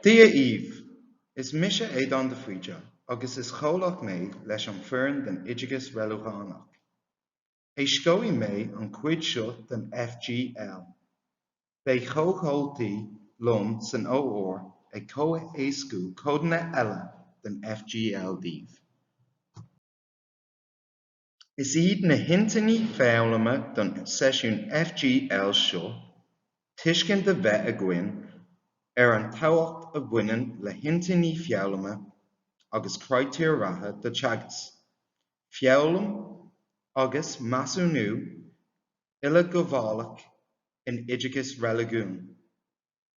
Dia dhaoibh! Is mise Éadán de Faoite agus is comhlach mé leis an fhoireann den Oideachas Reiligiúnach. Éascóidh mé an chuid seo den FGL. Beidh comhchomhlaigh liom san OR ag comhéascú codanna eile den FGL daoibh. Is iad na hintinní foghlama don seisiún FGL seo, tuiscint a bheith againn ar an tábhacht a bhaineann le hintinní foghlama agus critéir ratha do teagasc, foghlaim agus measúnú uileghabhálach in Oideachas Reiligiúnach.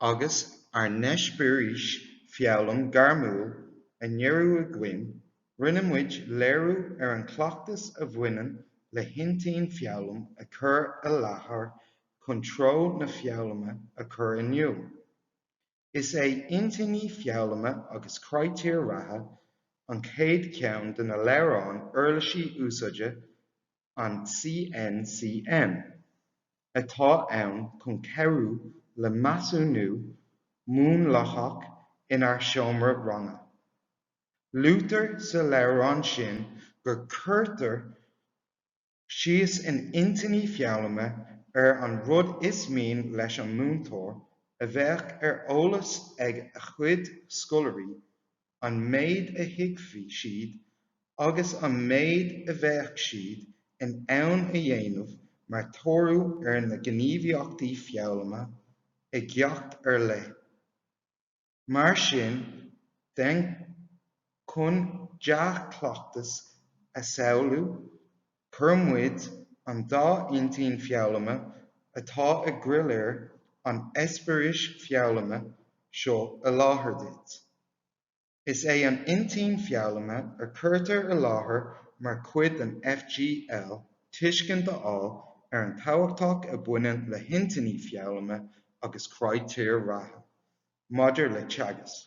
agus ar an eispéireas foghlaim gairmiúil a dearadh againn, rinne muid léiriú ar an gcleachtas a bhaineann le hintinn foghlaim a chur i láthair chun treo na foghlama a chur in iúl. Is é intinní foghlama agus critéir ratha an chéad cheann de na leabhráin uirlisí úsáide an CNCM, atá ann chun cabhrú le measúnú múnlaitheach inár seomra ranga. Luaitear sa leabhrán sin gur cuirtear síos in intinní foghlama ar an rud is mian leis an múinteoir a bheadh ar eolas ag a chuid scoláirí, an méid a thuigfeadh siad agus an méid a bheadh siad in ann a dhéanamh mar thoradh ar na gníomhaíochtaí foghlama i gceacht ar leith. Mar sin de, chun dea-chleachtas a shamhlú Chuir muid an dá intinn foghlama atá i gcroílár an eispéiris foghlama seo i láthair duit. Is é an intinn foghlama a chuirtear i láthair mar chuid den FGL tuiscint a fháil ar an tábhachtach a bhaineann le hintinní foghlama agus critéir ratha maidir le teagasc.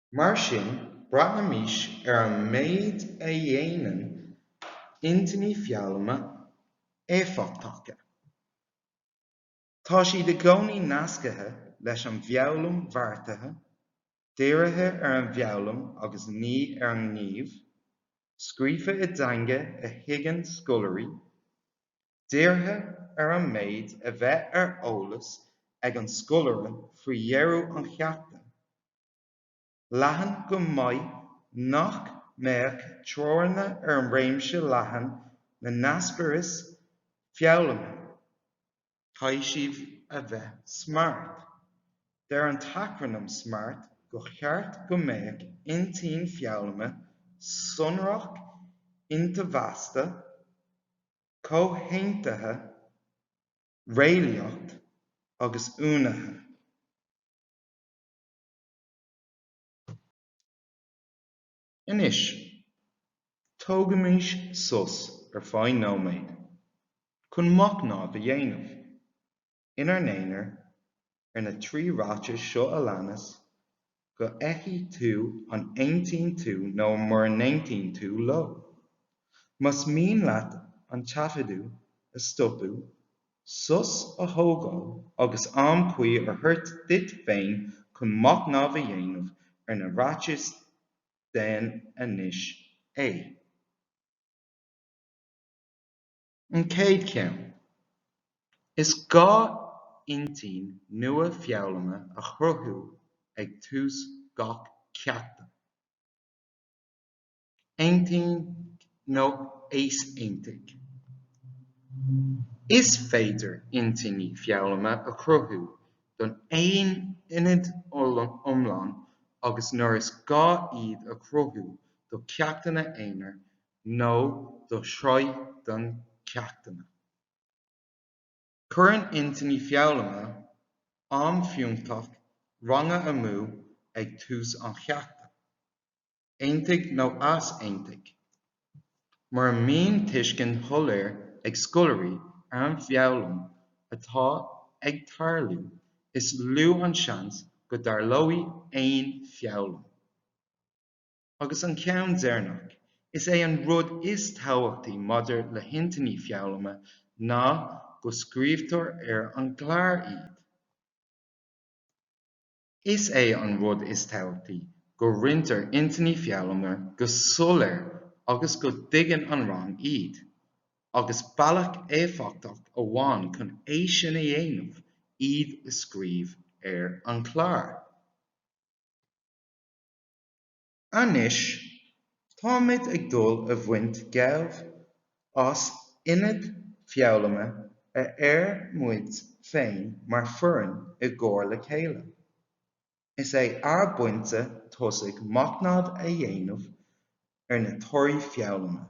Mar sin, breathnaímis ar an méid a dhéanann intinní foghlama éifeachtacha. Tá siad i gcónaí nasctha leis an bhfoghlaim bheartaithe, dírithe ar an bhfoghlaim agus ní ar an ngníomh, scríofa i dteanga a thuigeann scoláirí, dírithe ar an méid a bheidh ar eolas ag an scoláire faoi dheireadh an cheachta, leathan go maith nach mbeadh teorainn ar an réimse leathan na n-eispéireas foghlama. Caithfidh siad a bheith smart. Deir an t-acrainm smart gur cheart go mbeadh intinn foghlama sonrach, intomhaiste, comhaontaithe, réalaíoch agus uainithe. Anois, tógaimís sos ar feadh nóiméad chun machnamh a dhéanamh, inár n-aonar, ar na trí ráiteas seo a leanas, go bhfeicfidh tú an aontaíonn tú nó mura n-aontaíonn tú leo. Más mian leat an taifeadadh a stopadh, sos a thógáil agus am cuí a thabhairt duit féin chun machnamh a dhéanamh ar na ráitis, déan anois é. An chéad cheann. Is gá intinn nua foghlama a chruthú ag tús gach ceachta. Aontaigh nó easaontaigh. Is féidir intinní foghlama a chruthú don aonad iomlán agus nuair is gá iad a chruthú do cheachtanna aonair nó do shraith de cheachtanna. Cuireann intinní foghlama am fiúntach ranga amú ag tús an cheachta. aontaigh nó easaontaigh. Mura mbíonn tuiscint shoiléir ag scoláirí ar an bhfoghlaim atá ag tarlú, is lú an seans go dtarlóidh aon foghlaim. Agus an ceann deireanach, is é an rud is tábhachtaí maidir le hintinní foghlama ná go scríobhtar ar an gclár iad. Is é an rud is tábhachtaí go roinntear intinní foghlama go soiléir agus go dtuigeann an rang iad, agus bealach éifeachtach amháin chun é sin a dhéanamh iad a scríobh ar an gclár. Anois, táimid ag dul a bhaint gabh as aonad foghlama a dhear muid féin mar foireann i gcomhar le chéile. Is é ár bpointe tosaigh machnamh a dhéanamh ar na torthaí foghlama.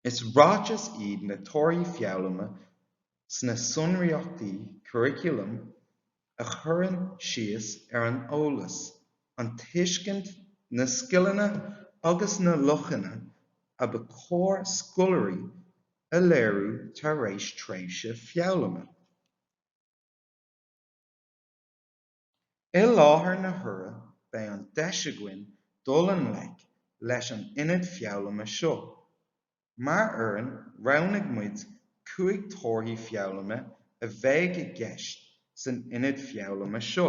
Is ráiteas iad na torthaí foghlama sna sonraíochtaí curaculaim a chuireann síos ar an eolas, an tuiscint, na scileanna agus na luachanna a ba chóir scoláirí a léiriú tar éis tréimhse foghlama. I láthair na huaire beidh an deis againn dul i ngleic leis an aonad foghlama seo. Mar fhoireann roghnaigh muid cúig torthaí foghlama a bheidh i gceist san aonad foghlama seo.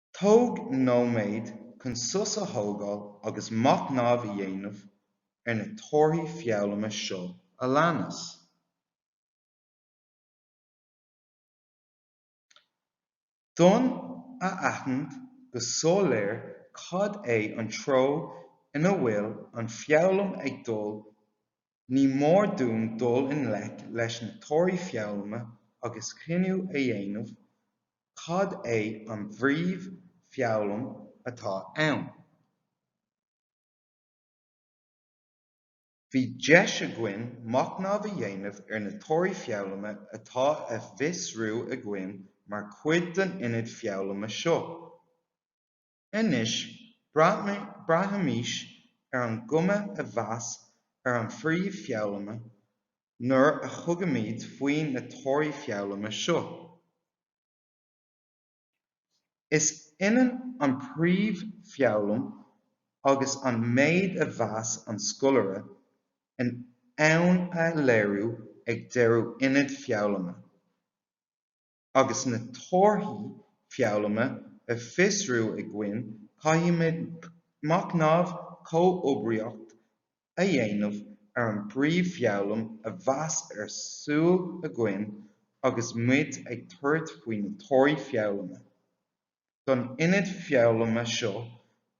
Tóg nóiméad chun sos a thógáil agus machnamh a dhéanamh ar na torthaí foghlama seo a leanas. D'fhonn a aithint go soiléir cad é an treo ina bhfuil an foghlaim ag dul Ní mór dúinn dul i ngleic leis na torthaí foghlama agus cinneadh a dhéanamh cad é an phríomhfhoghlaim atá ann. Bhí deis againn machnamh a dhéanamh ar na torthaí foghlama atá á bhfiosrú againn mar chuid den aonad foghlama seo. Anois, breathnaímis ar an gcuma a bheas ar an phríomhfhoghlama nuair a thugaimid faoi na torthaí foghlama seo. Is ionann an príomhfhoghlaim agus an méid a bheas an scoláire in ann a léiriú ag deireadh aonad foghlama. agus na torthaí foghlama á fiosrú againn caithfimid machnamh comhoibríoch a dhéanamh ar an bpríomhfhoghlaim a bheas ar súil againn agus muid ag tabhairt faoi na torthaí foghlama. Don aonad foghlama seo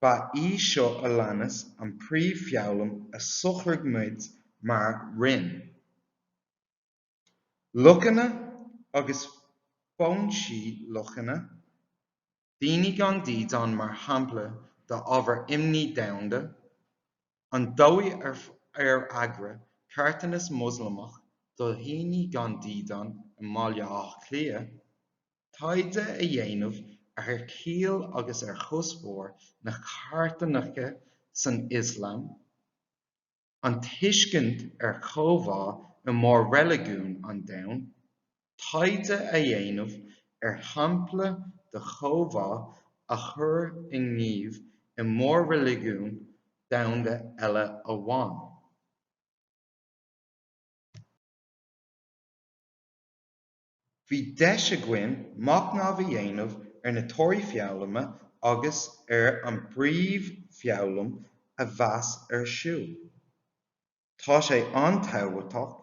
ba í seo a leanas an príomhfhoghlaim a shocraigh muid mar roinn. Luachanna agus foinsí luachanna, daoine gan dídeán mar shampla d'ábhar imní domhanda, an dóigh ar eagraíodh carthanas Moslamach do dhaoine gan dídeán i mBaile Átha Cliath taighde a dhéanamh ar chiall agus ar chuspóir na carthanachta san Ioslam, an tuiscint ar chomhbhá i mór-reiligiúin an domhain, taighde a dhéanamh ar shampla de chomhbhá a chur i ngníomh i mór-reiligiún domhanda eile amháin. Bhí deis againn machnamh a dhéanamh ar na torthaí foghlama agus ar an bpríomhfhoghlaim a bheas ar siúl. Tá sé an-tábhachtach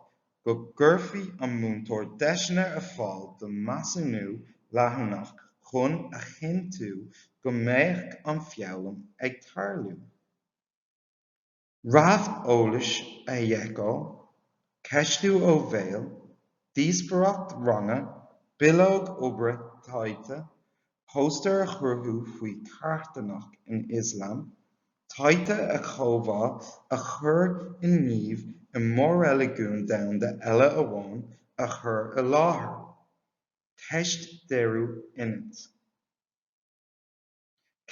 go gcuirfidh an múinteoir deiseanna ar fáil don measúnú leanúnach chun a chinntiú go mbeadh an foghlaim ag tarlú. Réamheolas a sheiceáil, ceistiú ó bhéal, díospoireacht ranga, bileog oibre taighde, póstaer a chruthú faoi charthanacht san Ioslam, taighde ar chomhbhá a chur i ngníomh i mór-reiligiún domhanda eile amháin a chur i láthair. Teist deireadh aonaid.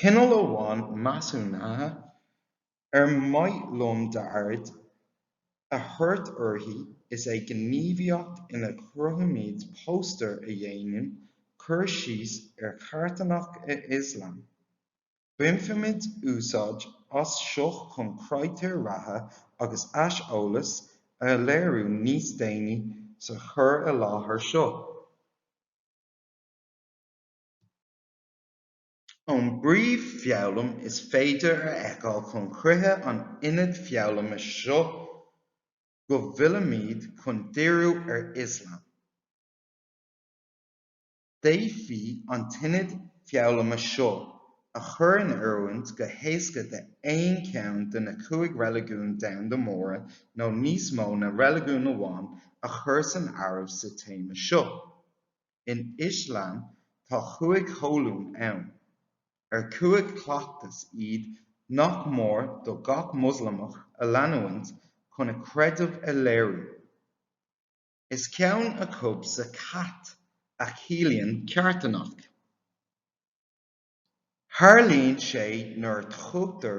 Cineál amháin measúnaithe ar mhaith liom d'aird a thabhairt uirthi is ea gníomhaíocht ina gcruthaímid póstaer a dhéanann cur síos ar charthanacht in Ioslam. Bainfimid úsáid as seo chun critéir ratha agus aiseolas a léiriú níos déanaí sa chur i láthair seo. ón bpríomhfhoghlaim is féidir a fheiceáil chun críche an aonaid foghlama seo go bhfuilimid chun díriú ar Ioslam. D'fhéadfaí an t-aonad foghlama seo a chur in oiriúint go héasca d'aon cheann de na cúig reiligiún domhanda móra nó níos mó ná reiligiún amháin a chur san áireamh sa téama seo. In Ioslam tá chúig cholún ann, ar cúig chleachtas iad nach mór do gach Moslamach a leanúint chun a chreideamh a léiriú. Is ceann acu zakat, a chiallaíonn carthanacht. Tarlaíonn sé nuair a thugtar.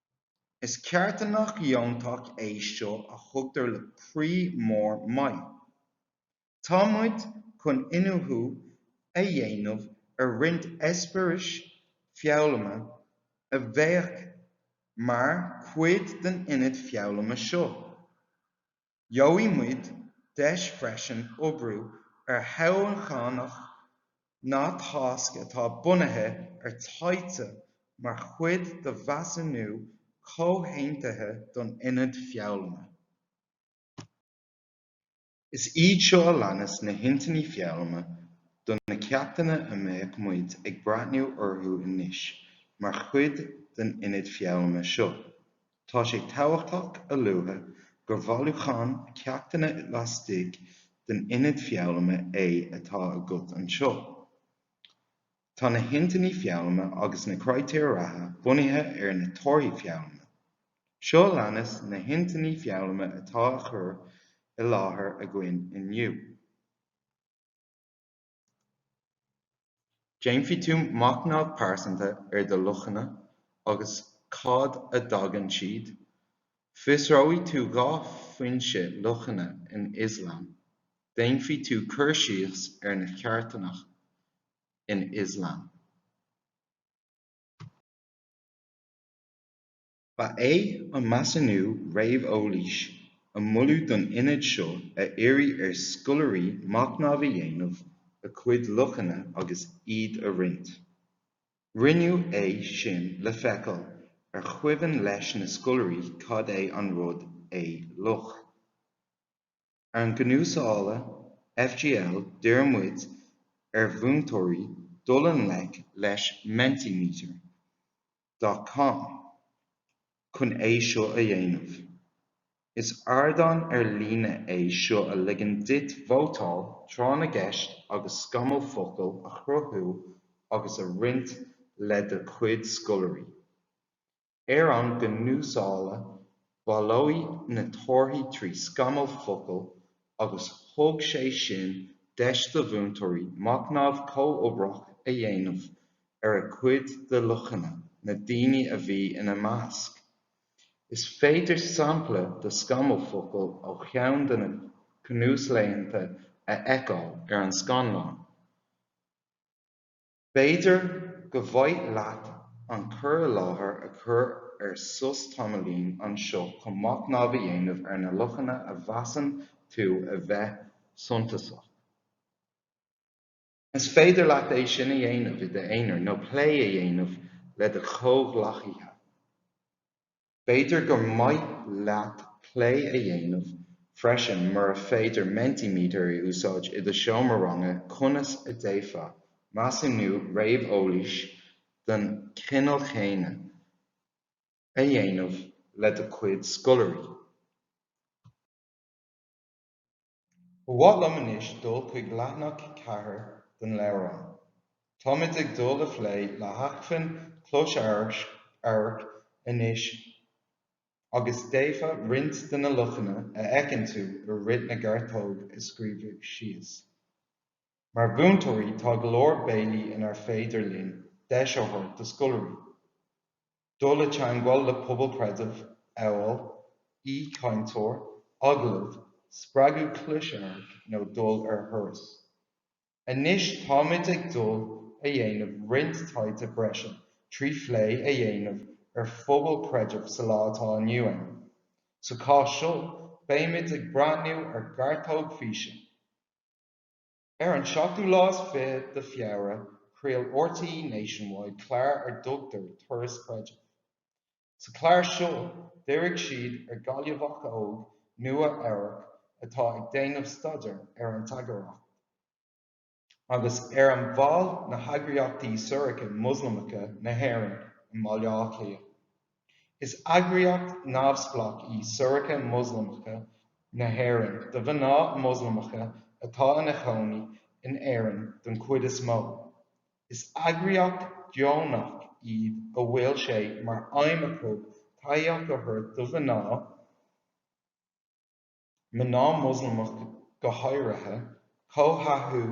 Is carthanacht dheontach é seo a thugtar le croí mór maith. Tá muid chun iniúchadh a dhéanamh ar roinnt eispéiris foghlama a bheadh mar chuid den aonad foghlama seo. Gheobhaidh muid deis freisin oibriú ar thionscnamh nó tasc atá bunaithe ar taighde mar chuid de mheasúnú comhaontaithe don aonad foghlama. Is iad seo a leanas na hintinní foghlama do na ceachtanna a mbeidh muid ag breathnú orthu anois mar chuid den aonad foghlama seo. Tá sé tábhachtach a lua gur bhailiúchán ceachtanna laistigh den aonad foghlama é atá agat anseo. Tá na hintinní foghlama agus na critéir ratha bunaithe ar na torthaí foghlama. Seo a leanas na hintinní foghlama atá á chur i láthair againn inniu. Déanfaidh tú machnamh pearsanta ar do luachanna agus cad a dtagann siad. Fiosróidh tú dhá fhoinse luachanna in Ioslam. Déanfaidh tú cur síos ar an charthanacht in Ioslam. Ba é an measúnú réamheolais a moladh don aonad seo a iarraidh ar scoláirí machnamh a dhéanamh a cuid luachanna agus iad a roinnt. Rinneadh é sin le feiceáil ar chuimhin leis na scoláirí cad é an rud é luach. Ar an gcnuaslá FGL d'iarr muid ar mhúinteoirí dul i ngleic leis Mentimeter dot com chun é seo a dhéanamh. Is ardán ar líne é seo a ligeann duit vótáil, tráth na gceist agus scamall focal a chruthú agus a roinnt le do chuid scoláirí. Ar an gcnuaslá, bailíodh na torthaí trí scamall focal agus thug sé sin deis do mhúinteoirí machnamh comhoibritheach a dhéanamh ar a cuid de luachanna na daoine a bhí ina measc. Is féidir sampla de scamall focal ó cheann de na cnuaslaethanta a fheiceáil ar an scáileán. B'fhéidir gur mhaith leat an cur i láthair a chur ar sos tamaillín anseo chun machnamh a dhéanamh ar na luachanna a mheasann tú a bheith suntasach. Is féidir leat é sin a dhéanamh i d'aonar nó plé a dhéanamh le do chomhghleacaithe. B'fhéidir gur maith leat plé a dhéanamh freisin, mura féidir Mentimeter a úsáid i do seomra ranga, conas a d'fhéadfá measúnú réamheolais den chineál chéanna a dhéanamh le do chuid scoláirí. Ba mhaith liom anois dul chuig leathanach 4 den leabhrán. Táimid ag dul a phlé le hacmhainn chlosamhairc anois agus d'fhéadfá roinnt de na luachanna a fheiceann tú i rith na gearrthóg a scríobhadh síos. Mar mhúinteoirí tá go leor bealaí inar féidir linn deis a thabhairt do scoláirí. dul i dteangmháil le pobail creidimh amhail aoichainteoir, agallamh, spreagadh closamhairc nó dul ar thuras. Anois táimid ag dul a dhéanamh roinnt taighde breise trí phlé a dhéanamh ar phobail creidimh sa lá atá inniu ann. Sa chás seo beimid ag breathnú ar ghearrthóg físe. Ar an seachtú lá is fiche de Feabhra, chraol RTÉ Nationwide clár ar dtugtar 'Turas Creidimh'. Sa chlár seo, dhírigh siad ar Ghaillmheach óg, Nua, Eabhrac, atá ag déanamh staidéar ar an tsagartacht, agus ar an bhaill na heagraíochtaí Siúracha Moslamacha na hÉireann i mBaile Átha Cliath. Is eagraíocht neamhspleách í Siúracha Moslamacha na hÉireann do mhná Moslamacha atá ina chónaí in Éirinn den chuid is mó. Is eagraíocht dheonach iad a bhfuil sé mar aidhm acu tacaíocht a thabhairt do mhná, mná Moslamach go háirithe, comhthathú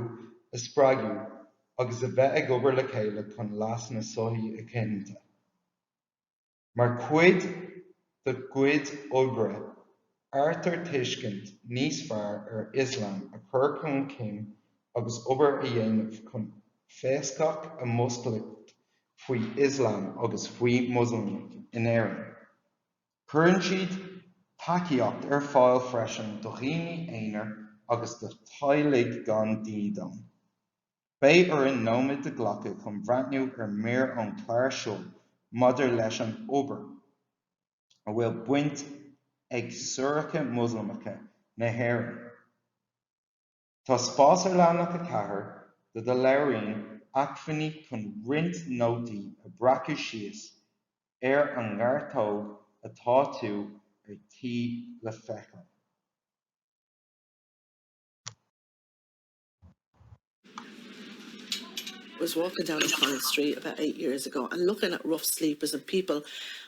a spreagadh agus a bheith ag obair le chéile chun leas na sochaí a chinntiú. Mar chuid dá gcuid oibre, áirítear tuiscint níos fearr ar Ioslam a chur chun cinn agus obair a dhéanamh chun feasacht a mhúscailt faoi Ioslam agus faoi Moslamach in Éirinn. Cuireann siad tacaíocht ar fáil freisin do dhaoine aonair agus do theaghlaigh gan dídean. Beidh orainn nóiméad a ghlacadh chun bhreathnú ar mhír ón gclár seo maidir leis an obair a bhfuil baint ag Siúracha Moslamacha na hÉireann, Tá spás ar leathanach 4 de do leabhairín acmhainní chun roinnt nótaí a breacadh síos ar an ngearrthóg atá tú ar tí le feiceáil. was walking down O'Connell Street about eight years ago and looking at rough sleepers and people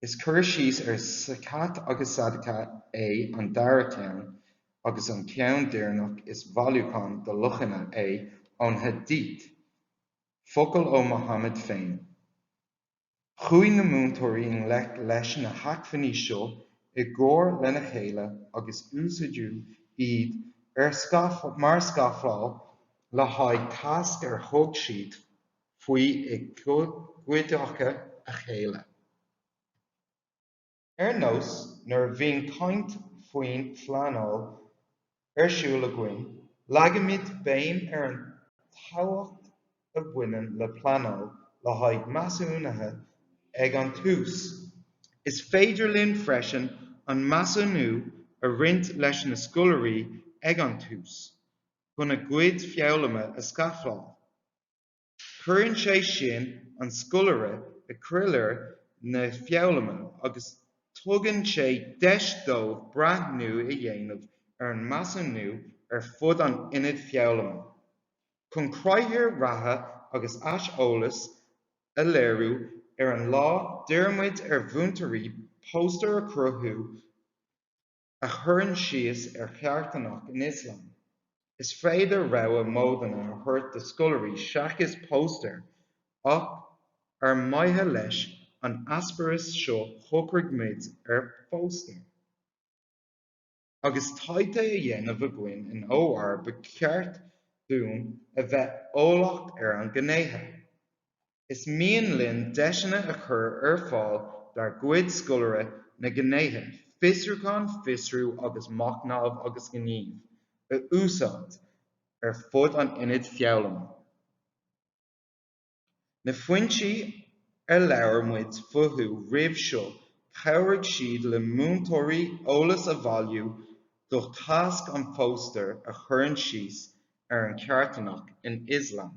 Is cur síos ar Zakat agus Sadaqah é an dara ceann, agus an ceann deireanach is bhailiúchán de luachana é ón Hadith, focail ó Muhammad féin. Chuaigh na múinteoirí i ngleic leis na hacmhainní seo i gcomhar lena chéile agus úsáideadh iad mar scafláil le haghaidh tasc ar thug siad. faoi i gcuideachta a chéile. Ar nós nuair a bhíonn caint faoin bpleanáil ar siúl againn, leagaimid béim ar an tábhacht a bhaineann le pleanáil le haghaidh measúnaithe ag an tús. Is féidir linn freisin an measúnú a roinnt leis na scoláirí ag an tús chun a gcuid foghlama a scafláil. Cuireann sé sin an scoláire i gcroílár na foghlama agus tugann sé deis dóibh breathnú a dhéanamh ar an measúnú ar fud an aonaid foghlama. Chun critéir ratha agus aiseolas a léiriú ar an lá, d'iarr muid ar mhúinteoirí póstaer a chruthú, a chuireann síos ar charthanacht in Ioslam. Is féidir rogha módanna a thabhairt do scoláirí seachas póstaer ach ar mhaithe leis an eispéireas seo shocraigh muid ar phóstaer. Agus taighde á dhéanamh againn in OR ba cheart dúinn a bheith eolach ar na gnéithe. Is mian linn deiseanna a chur ar fáil dár gcuid scoláirí na gnéithe fiosrúcháin, fiosrú agus machnamh agus gníomh a úsáid ar fud an aonaid foghlama. Na foinsí ar labhair muid fúthu roimhe seo chabhraigh siad le múinteoirí eolas a bhailiú do thasc an phóstaeir a chuireann síos ar an carthanacht in Ioslam.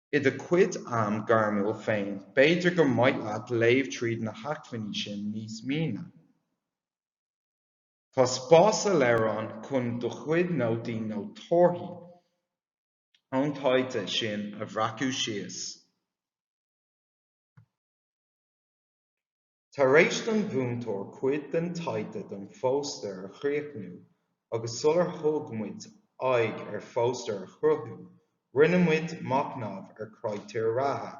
I do chuid am gairmiúil féin, b'fhéidir gur mhaith leat léamh tríd na hacmhainní sin níos mine. Tá spás sa leabhrán chun do chuid nótaí nó torthaí ón taighde sin a bhreacadh síos. Tar éis do na múinteoirí cuid den taighde don phóstaer a chríochnú agus sular thug muid aghaidh ar phóstaer a chruthú, rinne muid machnamh ar chritéir ratha.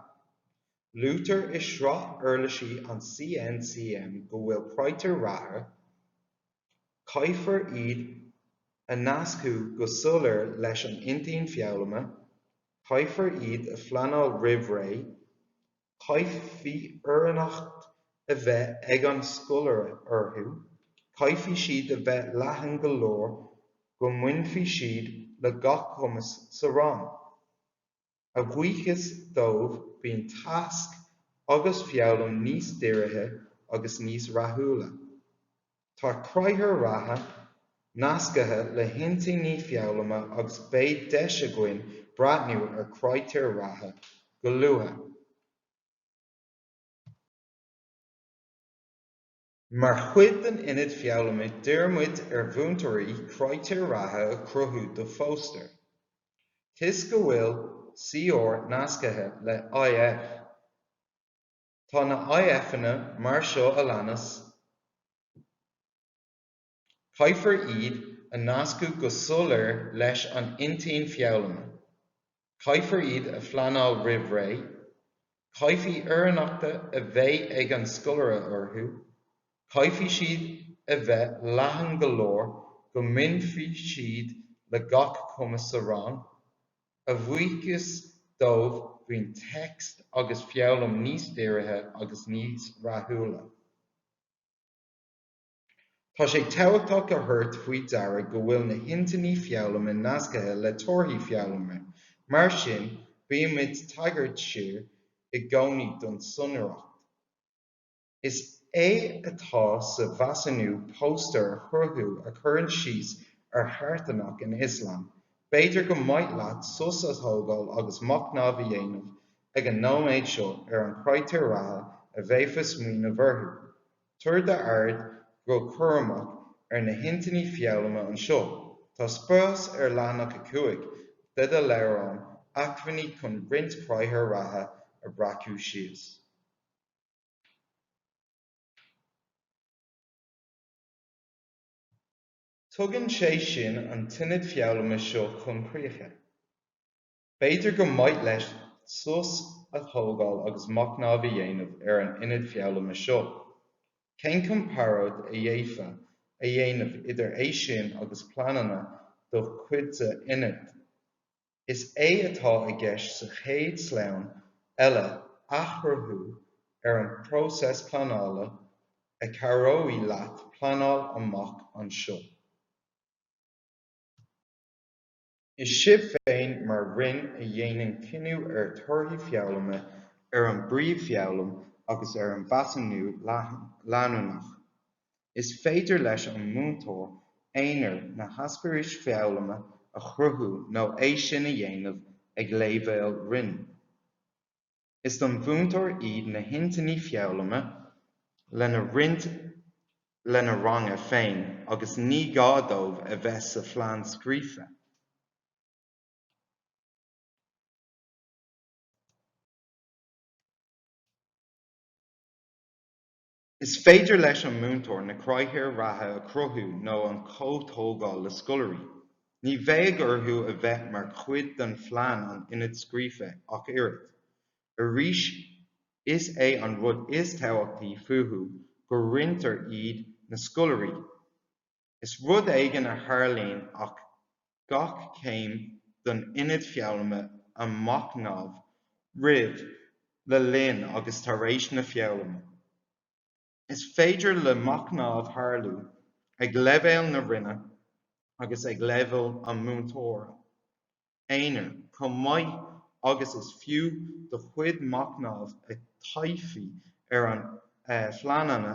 Luaitear i sraith uirlisí an CNCM go bhfuil critéir ratha, caithfear iad a nascadh go soiléir leis an intinn foghlama, caithfear iad a phleanáil roimh ré, Caithfidh oiriúnacht a bheith ag an scoláire orthu, caithfidh siad a bheith leathan go leor go mbainfidh siad le gach cumas sa rang. A bhuíochas dóibh bíonn teagasc agus foghlaim níos dírithe agus níos rathúla. Tá critéir ratha nascaithe le hintinní foghlama agus beidh deis againn breathnú ar chritéir ratha go luath. Mar chuid den Ionad Foghlama d'iarr muid ar mhúinteoirí critéir ratha a chruthú do phóstaer. Toisc go bhfuil CR nascaithe le IF, Tá na IFanna mar seo a leanas, caithfear iad a nascadh go soiléir leis an intinn foghlama, caithfear iad a phleanáil roimh ré, caithfidh oiriúnacht a bheith ag an scoláire orthu, caithfidh siad a bheith leathan go leor go mbainfidh siad le gach cumas sa rang, A bhuíochas dóibh bíonn teagasc agus foghlaim níos dírithe agus níos rathúla. Tá sé tábhachtach a thabhairt faoi deara go bhfuil na hintinní foghlama nascaithe le torthaí foghlama, mar sin bímid ag tagairt siar i gcónaí don tsonraíocht. Is é atá sa mheasúnú póstaer a chruthú a chuireann síos ar charthanacht in Ioslam. B'fhéidir gur mhaith leat sos a thógáil agus machnamh a dhéanamh ag an nóiméad seo ar an critéir ratha a bheifeá ag smaoineamh orthu. Tabhair d'aird go cúramach ar na hintinní foghlama anseo. Tá spás ar leathanach 5 de do leabhrán acmhainní chun roinnt critéir ratha a bhreacadh síos. Tugann sé sin an t-ionad foghlama seo chun críche. B'fhéidir gur mhaith libh sos a thógáil agus machnamh a dhéanamh ar an ionad foghlama seo. Cén comparáid a d'fhéadfá a dhéanamh idir é sin agus pleananna do chuid d'ionaid? Is é atá i gceist sa chéad sleamhnán eile athchruthú ar an bpróiseas pleanála a chabhróidh leat pleanáil amach anseo. Is sibh féin mar Roinn a dhéanann cinneadh ar thorthaí foghlama, ar an bpríomhfhoghlaim agus ar an mheasúnú leanúnach. Is féidir leis an múinteoir aonair na heispéiris foghlama a chruthú nó é sin a dhéanamh ag léibhéal roinn. Is don mhúinteoir iad na hintinní foghlama lena roinnt lena ranganna féin agus ní gá dóibh a bheith sa phlean scríofa. Is féidir leis an múinteoir na critéir ratha a chruthú nó an comhthógáil le scoláirí. Ní bheidh orthu a bheith mar chuid den phlean an ionaid scríofa ach oiread. Arís is é an rud is tábhachtaí fúthu go roinntear iad, na scoláirí, Is rud éigin a tharlaíonn ag gach céim den ionad foghlama a machnamh roimh, le linn agus tar éis na foghlama. Is féidir le machnamh tarlú ag leibhéal na roinne agus ag leibhéal an mhúinteora. aonair chomh maith agus is fiú do chuid machnamh a thaifeadadh ar do phleananna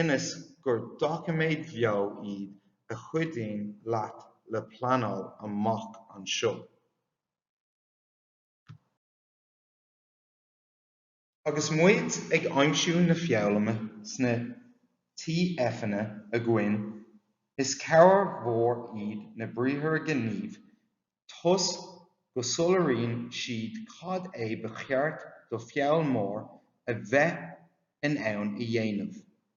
ionas gur doiciméid bheo iad a chuidíonn leat le pleanáil amach anseo. Agus muid ag aimsiú na foghlama sna TFanna againn, is cabhair mhór iad na briathra gnímh toisc go soiléiríonn siad cad é ba cheart do foghlaimeoir a bheith in ann a dhéanamh.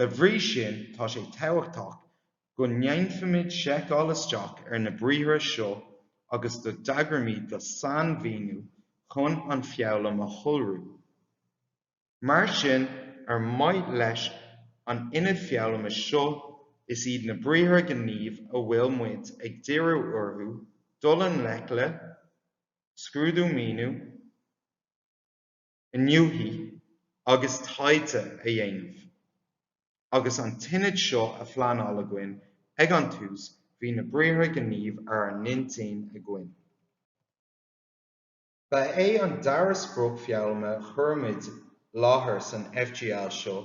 Dá bhrí sin, tá sé tábhachtach go ndéanfaimid seiceáil isteach ar na briathra seo agus go dtagraímid do sainmhíniú chun an foghlaim a shonrú. Mar sin, ar mhaithe leis an ionad foghlama seo, is iad na briathra gnímh a bhfuil muid ag díriú orthu, dul i ngleic le, scrúdú míniú, iniúchadh agus taighde a dhéanamh. Agus an t-ionad seo á phleanáil againn ag an tús bhí na briathra gnímh ar ár n-intinn againn. Ba é an dara sprioc foghlama a chuir muid i láthair san FGL seo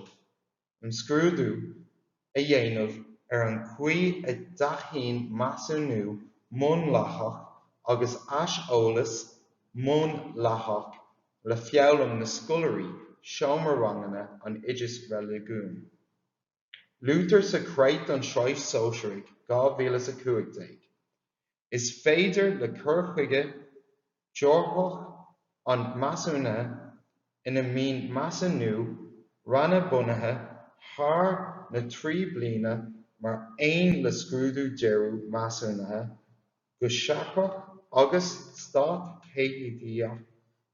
imscrúdú a dhéanamh ar an gcaoi a dtacaíonn measúnú múnlaitheach agus aiseolas múnlaitheach le foghlaim na scoláirí seomra ranganna an Oideachais Reiligiúnaigh. Luaitear sa Creat don tSraith Shóisearach 2015, Is féidir le cur chuige deorthach an measúnaithe ina mbíonn measúnú ranna bunaithe thar na trí bliana mar aon le scrúdú deireadh measúnaithe go seachtrach agus stát deimhnithe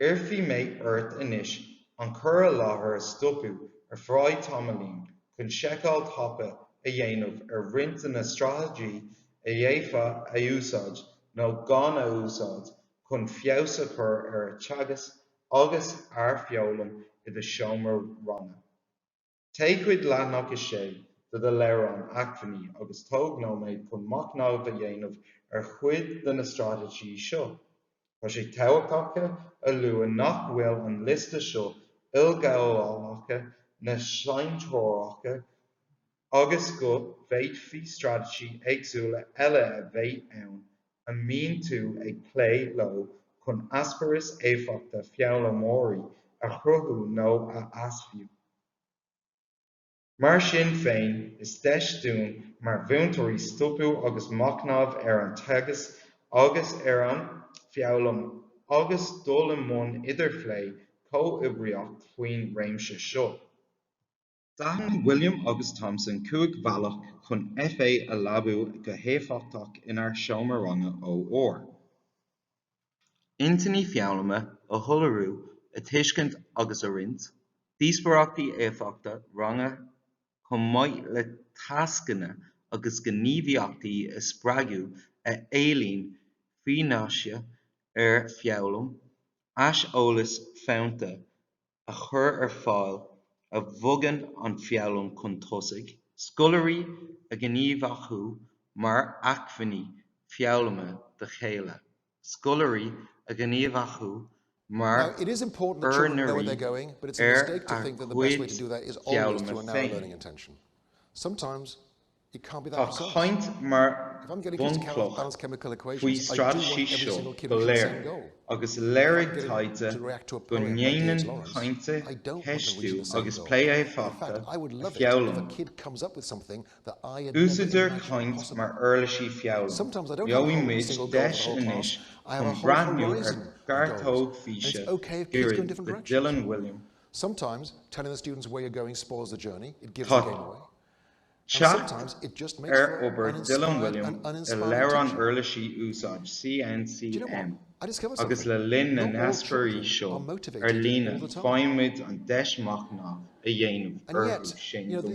Iarrfaidh mé ort anois an cur i láthair a stopadh ar feadh tamaillín chun seiceáil thapa a dhéanamh ar roinnt de na straitéisí a d'fhéadfá a úsáid nó gan a úsáid chun feabhas a chur ar an teagasc agus ar fhoghlaim i do sheomra ranga. Téigh chuig leathanach 6 de do leabhrán acmhainní agus tóg nóiméad chun machnamh a dhéanamh ar chuid de na straitéisí seo. Tá sé tábhachtach a lua nach bhfuil an liosta seo ilghabhálach ná saintreorach agus go bhféadfaí straitéisí éagsúla eile a bheith ann a mbíonn tú ag plé leo chun eispéireas éifeachta foghlaimeoirí a chruthú nó a fheabhsú. Mar sin féin, is deis dúinn mar mhúinteoirí stopadh agus machnamh ar an teagasc agus ar an foghlaim agus dul i mbun idirphlé comhoibríoch faoin réimse seo. D'aithin Wiliam agus Thompson cúig bhealach chun FA a leabú go héifeachtach inár seomra ranga OR. Intinní foghlama a shoiléiriú, a tuiscint agus a roinnt, díospóireachtaí éifeachta ranga chomh maith le tascanna agus gníomhaíochtaí a spreagadh a éilíonn fianaise ar foghlaim, aiseolas fónta a chur ar fáil a bhogann an foghlaim chun tosaigh, scoláirí a ghníomhachú mar acmhainní foghlama dá chéile, scoláirí a ghníomhachú mar úinéirí ar a gcuid foghlama féin. Tá caint mar bhunchloch faoi na straitéisí seo go léir agus léirigh taighde go ndéanann caint, ceistiú agus plé éifeachta a foghlaim. Úsáidtear caint mar uirlisí foghlama. Gheobhaidh muid deis anois chun breathnú ar ghearrthóg físe gairid le Dylan Wiliam. Tá. Teacht ar obair Dylan Wiliam i leabhrán uirlisí úsáide CNCM agus le linn na n-eascairí seo ar líne faighimid an deis machnamh a dhéanamh orthu sin go mór.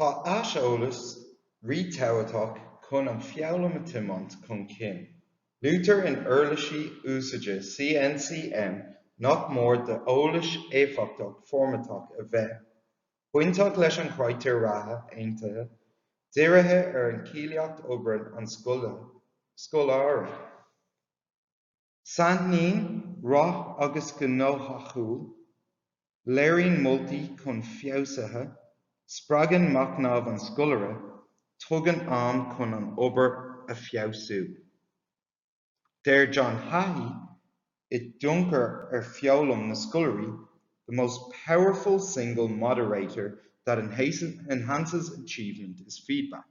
Tá aiseolas rí-thábhachtach chun an foghlaim a tiomáint chun cinn. Luaitear in uirlisí úsáide CNCM nach mór d'eolas éifeachtach foirmitheach a bheith bainteach leis an critéir ratha aontaithe dírithe ar an cáilíocht oibre an scoláire. Sainaithníonn rath agus gnóthachtáil, léiríonn moltaí chun feabhsaithe, spreagann machnamh an scoláire, tugann am chun an obair a feabhsú. Deir John Hattie i dtionchar ar foghlaim na scoláirí, 'the most powerful single moderator that enhances achievement is feedback'.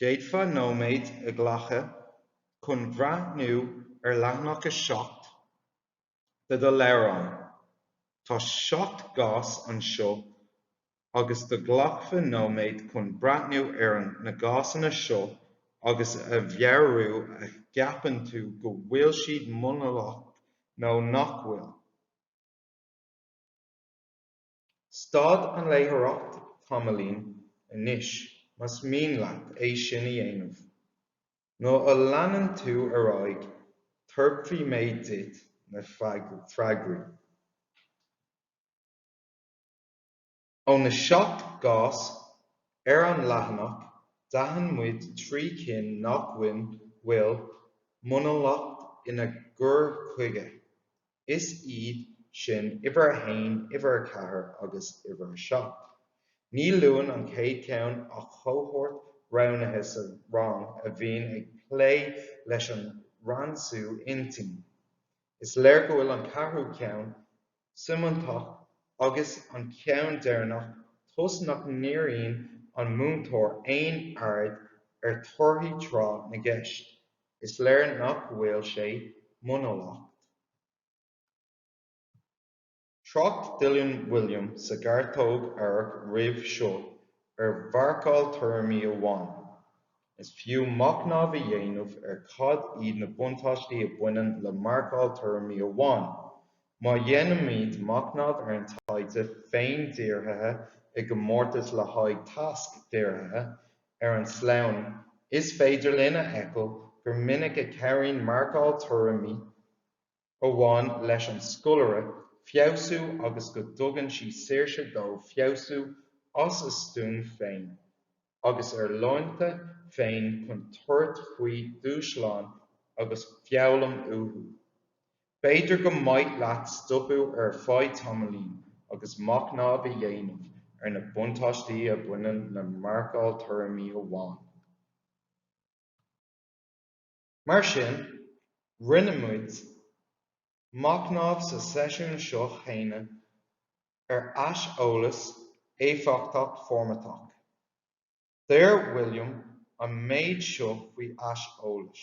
D'fhéadfá nóiméad a ghlacadh chun breathnú ar leathanach a seacht de do leabhrán. Tá seacht gcás anseo agus dá nglacfá nóiméad chun breathnú ar na gcásanna seo agus a mheabhrú an gceapann tú go bhfuil siad múnlach nó nach bhfuil. Stad an láithreoireacht tamaillín anois, más mian leat é sin a dhéanamh. Nuair a leanann tú ar aghaidh, tabharfaidh mé duit na freagraí. Ó na seacht gcás ar an leathanach, d'aithin muid trí cinn nach bhfuil múnlach ina gcur chuige, Is iad sin uimhir a haon, uimhir a ceathair agus uimhir a seacht. Ní luann an chéad cheann ach cohórt roghnaithe sa rang a bhíonn ag plé leis an ransú intinne. Is léir go bhfuil an ceathrú ceann suimitheach agus an ceann deireanach toisc nach ndíríonn an múinteoir aon aird ar torthaí tráth na gceist. Is léir nach bhfuil sé múnlach. Thrácht Dylan Wiliam sa ghearrthóg amhairc roimh seo ar mharcáil tuairimí amháin. Is fiú machnamh a dhéanamh ar cad iad na buntáistí a bhaineann le marcáil tuairimí amháin. Má dhéanaimid machnamh ar an taighde féin-dhírithe i gcomórtas le haghaidh tasc-dhírithe, Ar an sleamhnán, is féidir linn a fheiceáil gur minic a chabhraíonn marcáil tuairimí amháin leis an scoláire feabhsú agus go dtugann sí saoirse dó feabhsú as a stuaim féin agus ar láinte féin chun tabhairt faoi dhúshlán agus foghlaim uathu. B'fhéidir gur mhaith leat stopadh ar feadh tamaillín agus machnamh a dhéanamh ar na buntáistí a bhaineann le marcáil tuairimí amháin. Mar sin, rinne muid machnamh sa seisiún seo cheana ar aiseolas éifeachtach formatach. Deir William an méid seo faoi aiseolas.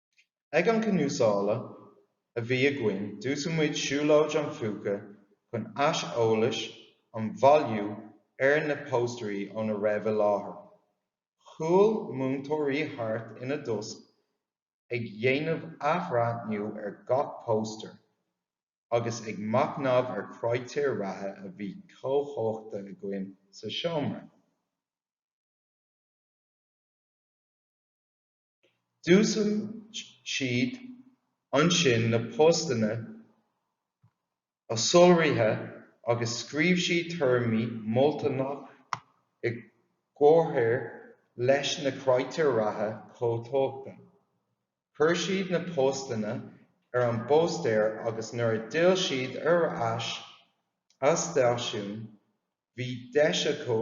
Ag an Cnuaslá a bhí againn d'úsáid muid Siúlóid an Phúca chun aiseolas a bhailiú ar na póstaerí óna raibh i láthair. Shiúil múinteoirí thart ina dtost ag dhéanamh athbhreathnú ar gach póstaer agus ag machnamh ar critéir ratha a bhí comhthógtha againn sa seomra. D'úsáid siad ansin na postanna a soláthraíodh agus scríobh siad tuairimí moltacha i gcomhréir leis na critéir ratha comhthógtha. Chuir siad na postanna ar an bpóstaer agus nuair a d'fhill siad ar ais ag a stáisiún Bhí deis acu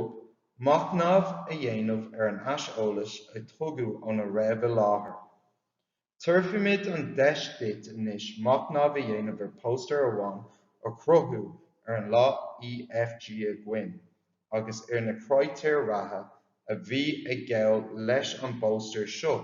machnamh a dhéanamh ar an aiseolas a tugadh óna raibh i láthair. Tabharfaimid an deis duit anois machnamh a dhéanamh ar póstaer amháin a cruthaíodh ar an lá EFG againn agus ar na critéir ratha a bhí ag gabháil leis an bpóstaer seo.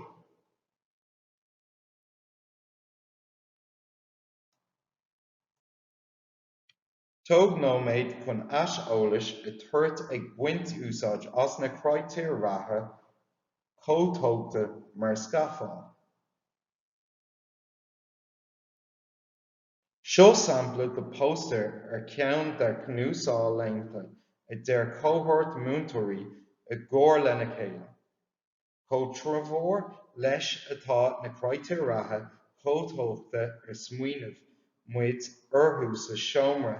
Tóg nóiméad chun aiseolas a thabhairt ag baint úsáid as na critéir ratha comhthógtha mar scafall. Seo sampla de póstaer ar cheann dár gcnuaslaethanta a dhear cohórt múinteoirí i gcomhar lena chéile. Comhthreomhar leis atá na critéir ratha comhthógtha ar smaoinigh muid orthu sa seomra,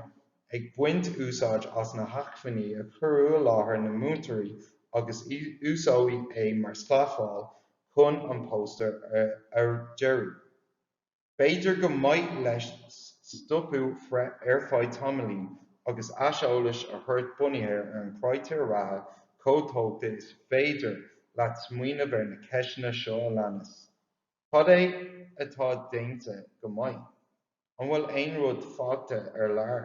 ag baint úsáid as na hacmhainní a cuireadh i láthair na múinteoirí agus úsáideadh é mar scafall chun an póstaer a dhearadh. B'fhéidir gur mhaith leat stopadh ar feadh tamaillín agus aiseolas a thabhairt bunaithe ar na critéir ratha chomhthógtha is féidir leat smaoineamh ar na ceisteanna seo a leanas, Cad é atá déanta go maith? An bhfuil aon rud fágtha ar lár?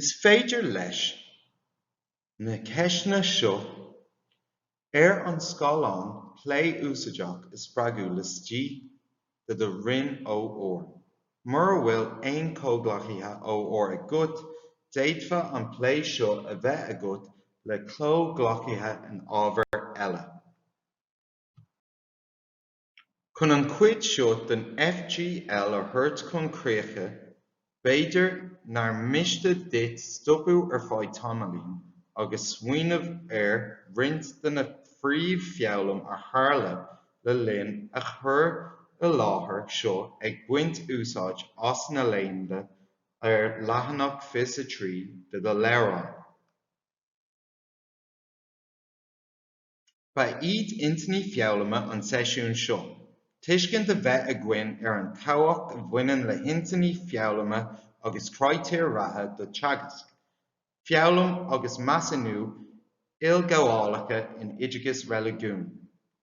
Is féidir leis na ceisteanna seo ar an scáileán plé úsáideach a spreagadh laistigh de do Roinn OR. Mura bhfuil aon chomhghleacaithe OR agat, d'fhéadfá an plé seo a bheith agat le comhghleacaithe in ábhair eile. Chun an chuid seo den FGL a thabhairt chun críche, B'fhéidir nár miste duit stopadh ar feadh tamaillín agus smaoineamh ar roinnt de na príomh-fhoghlaim a tharla le linn an chur i láthair seo ag baint úsáid as na leideanna ar leathanach fiche a trí de do leabhrán. Ba iad intinní foghlama an tseisiúin seo, tuiscint a bheith againn ar an tábhacht a bhaineann le hintinní foghlama agus critéir ratha do teagasc, foghlaim agus measúnú ilghabhálacha in oideachas reiligiúin,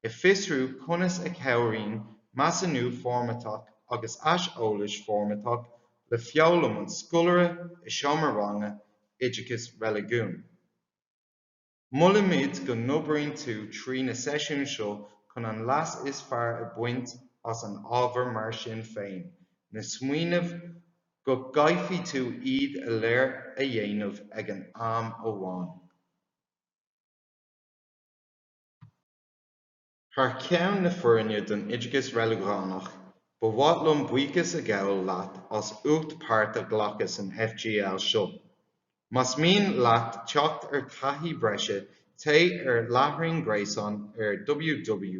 a fhiosrú conas a chabhraíonn measúnú foirmitheach agus aiseolas foirmitheach le foghlaim an scoláire i seomra ranga oideachas reiligiúin. Molaimid go n-oibríonn tú trí na seisiúin seo chun an leas is fearr a bhaint as an ábhar mar sin féin, ná smaoinigh go gcaithfidh tú iad go léir a dhéanamh ag an am amháin. Thar ceann na foirne don Oideachas Reiligiúnach, ba mhaith liom buíochas a ghabháil leat as ucht páirt a ghlacadh san FGL seo. Más mian leat teacht ar taithí bhreise téigh ar láithreán gréasáin ar www.jct.ie.